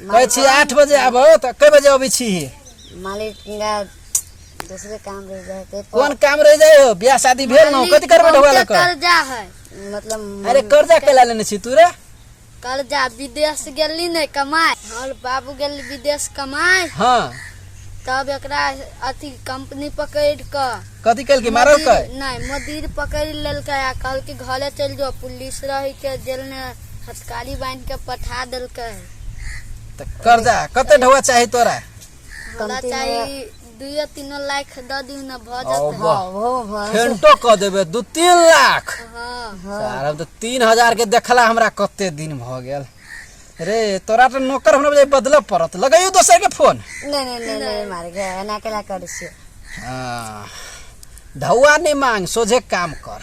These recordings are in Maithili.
कहै छी आठ बजे आबो तऽ कए बजे अबै छी मालिक हिनका दूसरे काम रह जाए के कोन काम रह जाए हो बियाह शादी भेल न कथि करबे ढोआ लक कर्जा है मतलब अरे कर्जा केला लेने छी तू रे कर्जा विदेश गेली ने कमाए और बाबू गेल विदेश कमाए हां तब एकरा अथी कंपनी पकड़ क कथि कल के मारल के नहीं मदिर पकड़ लेल के आ कल के घरे चल जो पुलिस रही के जेल में हथकाली बांध के पठा दिल के तो कर जा कते ढवा चाहिए तोरा हमरा चाहिए दुए तीन लाख द दी न भ जाते वाह फेंटो कर देबे दू तीन लाख हाँ सारा तो तीन हजार के देखला हमरा कते दिन भ गेल रे तोरा तो नौकर हमरा बजे बदल पड़त लगाइयो दोसर के फोन नहीं नहीं नहीं नहीं मार गया एना केला कर से हाँ ढौआ नहीं मांग सोझे काम कर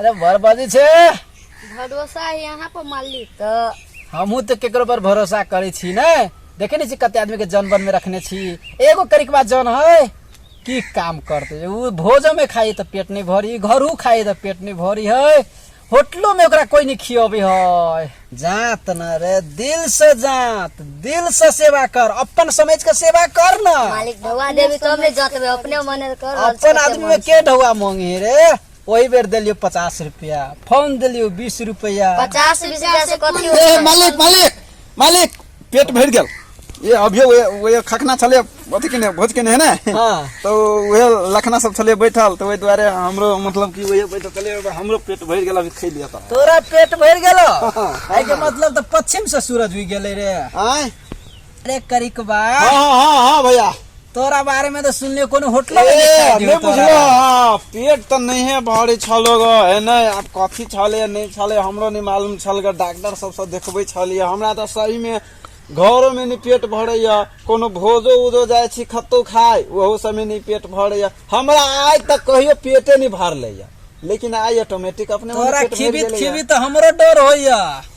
अरे वर बाजी छे भरोसा है यहाँ पर मालिक तो हमहू तो केकरो पर भरोसा करे छी ने देखे नहीं छी कते आदमी के जन बन में रखने छी एगो करी के बाद जन है की काम करते उ भोजो में खाई तो पेट नहीं भरी घरू खाई तो पेट नहीं भरी है होटलो में ओकरा कोई नहीं खियाबे है जात न रे दिल से जात दिल से सेवा कर अपन समझ के सेवा कर ना मालिक ढवा देवी तो हमने जाते हुए अपने मन कर अपन आदमी में के ढौआ मांगे रे ओहि बेर देलियो पचास रुपया फोन देलियो बीस रुपया पचास बीस हजार से कथी ए होतै? मालिक मालिक मालिक पेट भरि गेल ए अभियो ओए ओए खखना छले अथी केने भोज केने है ने हाँ। तो ओए लखना सब छले बैठल तो ओहि दुआरे हमरो मतलब कि ओए बैठल छले अब हमरो पेट भरि गेल अभी खै लिया त तोरा पेट भरि गेलो एहि के मतलब तऽ पश्चिम से सूरज उगि गेलै रे आय अरे करिकबा हाँ हाँ हाँ हाँ भैया तोरा बारे में तो सुनले कोनो होटल में ए, दिखाई दियो नहीं तोरा। बुझलो हाँ, पेट तो नहीं है भारी छलो गो है नहीं आप कथी छले या नहीं छले हमरो नहीं मालूम छल गो डॉक्टर सब सब देखबे छलिए हमरा तो सही में घरो में नहीं पेट भरे या कोनो भोजो उजो जाए छी खत्तो खाए ओहो सब में नहीं पेट भरे या हमरा आय तक कहियो पेटे नहीं भरले या लेकिन आय ऑटोमेटिक अपने मोने तोरा पेट भरि खिबित गेलै या। खिबित हमरो डर होइया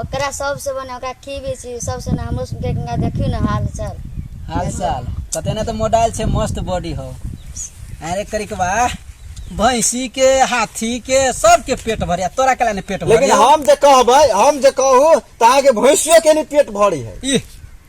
ओकरा सबसे बने ओकरा की भी छी सबसे ना हमरो सुन के गंगा देखी ना हाल चाल हाल साल कते ना तो मोडाइल छे मस्त बॉडी हो अरे करिकवा भैंसी के हाथी के सबके पेट भरे आ तोरा कला ने पेट भरे लेकिन हम जे कहबै हम जे कहू त अहाँ के भैंसियो के नहीं पेट भरी है ई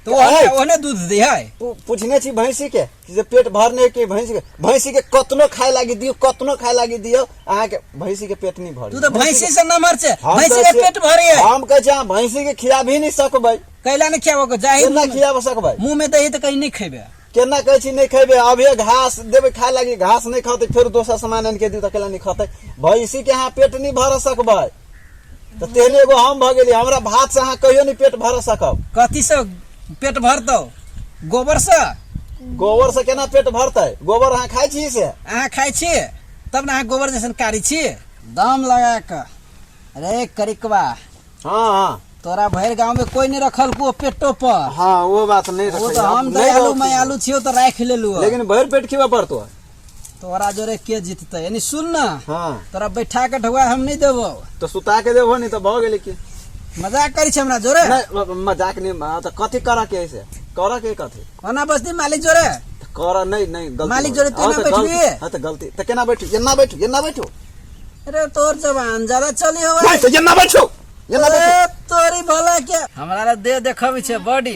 तो ओहने ओहने दूध दे है पु- पूछने छी भैंसी के जे पेट भरने के भैंसी के भैंसी के कतनो खाए लागी दियो कतनो खाए लागी दियो अहाँ के भैंसी के पेट नहीं भरी तू तो भैंसी से नमर छे हम भैंसी कहै के छियै- पेट भरे है हम कहे छी अहाँ भैंसी के खिया भी नहीं सकबै कैला ने खियाबो को जाहि केना खियाब सकबै मुंह में दही तो कहीं नहीं खेबे केना कहै छी नहीं खेबै अब ये घास देबै खाए लागी घास नहीं खतै फेर दोसर सामान आनि के दियो तऽ केला नहीं खतै भैंसी के अहाँ पेट नहीं भर सकबै तऽ तेहने एगो हम भऽ गेली हमरा भात से अहाँ कहियो नहि पेट भर सकब कथी से पेट भरतौ गोबर से गोबर से केना पेट भरतै गोबर अहाँ खाइ छी से अहाँ खाइ छी तब ने अहाँ गोबर जैसन कारी छी दाम लगा कऽ रे करिकवा हाँ हाँ तोरा भरि गांव में कोई नहीं रखल को पेटो पर हाँ वो बात नहीं वो रखै तो हम दयालु मयालु छियो तो राख लेलु लेकिन भरि पेट खिबा पड़तो तोरा जोरे के जीतते यानी सुन ना हाँ तोरा बैठा के ढुआ हम नहीं देबो तो सुता के देबो नहीं तो भऽ गेलै की मजाक करी छै हमरा जोरे नहि, म- म- मजाक नहि हाँ, तऽ कथी करऽ के है से करऽ के कथी ओना बस्ती मालिक जोरे तऽ करऽ नहि नहि गलती मालिक भऽ जोरे गेलै। तेना हाँ, तऽ गलती- बैठबिही? हाँ, तऽ गलती तऽ केना बैठू एना बैठू एना बैठू अरे तोर जवान ज्यादा चली हो नहि तऽ एना बैठू एना बैठू तोरी भला के हमरा दे देखबी छै बॉडी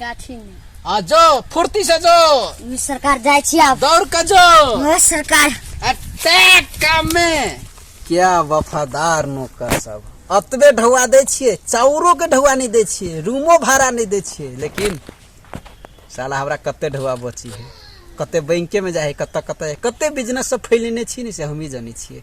गाठी में आ जो फुर्ती से जो ई सरकार जाए छी आब दौड़ के जो ओ सरकार अटैक काम में क्या वफादार नौकर सब अतबे ढौआ दै छियै चाउरो के ढौआ नहि दै छियै रूमो भाड़ा नहि दै छियै लेकिन साला हमरा कते ढौआ बची है कते बैंके में जाइ है कतऽ कतऽ है कते बिजनेस सब फैलेने छी ने से हमही जानै छियै